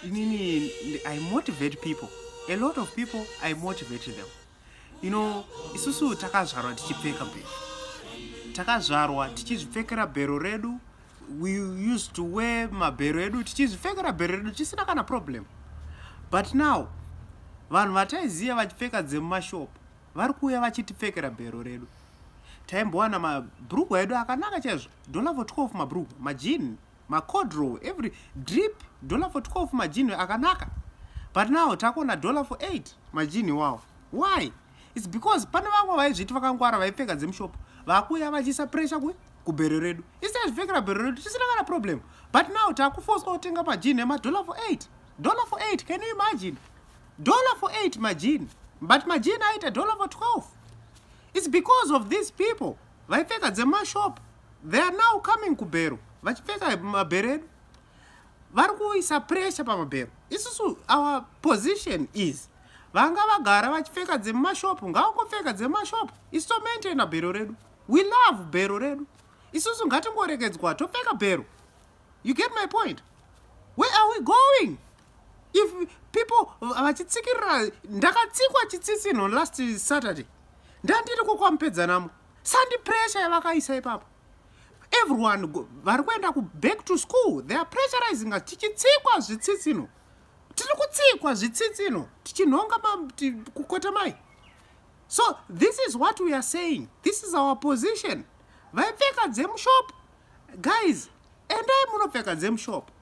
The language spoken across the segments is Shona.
inini i motivate people a lot of people i motivate them you know isusu takazvarwa tichipfeka bhero takazvarwa tichizvipfekera bhero redu we used to wear mabhero edu tichizvipfekera bhero redu tisina kana problem but now vanhu vataiziva vachipfeka dzemumashop vari kuuya vachitipfekera bhero redu taimbowana mabrugwa edu akanaka chaizvo dolavo 12 mabrugwa majini macodrow every drip dollar for 12 majinhi akanaka but now takuona dollar for 8 majinhi wawo why its because pane vamwe vaizviti vakangwara vaipfeka dzemushopo vakuuya vachiisa pressure ku kubhero redu isi azvipfekera bhero redu tisina kana problem but now takufoswa kutenga majinhi emadollar for 8 dollar for 8 can you imagine dollar for 8 majinhi but majinhi aita dollar for 12 its because of these people vaipfeka dzemashopo they are now coming kubhero vachipfeka mabhero edu vari kuisa pressure pamabhero isusu our position is vanga vagara vachipfeka dzemumashopu ngavangopfeka dzemumashopu isu tomaintaina bhero redu we love bhero redu isusu ngatingorekedzwa topfeka bhero you get my point where are we going if people vachitsikirira ndakatsikwa chitsitsinho last saturday ndandiri kokwamupedzanamo sandi pressure yavakaisa ipapo everyone vari kuenda kuback to school they are pressurizing us tichitsikwa zvitsitsino tiri kutsikwa zvitsitsino tichinhonga kukota mai so this is what we are saying this is our position vaipfeka dzemushop guys endai munopfeka dzemushop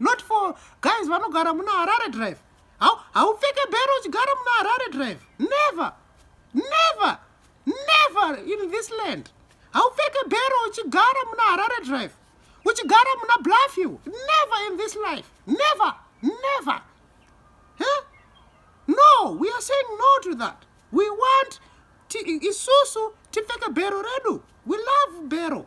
not for guys vanogara muna harare drive haupfeke bhero uchigara muna harare drive never never never in this land haupfeke bhero uchigara muna harare drive uchigara muna blafew never in this life never never huh? no we are saying no to that we want isusu tipfeke bhero redu we love bhero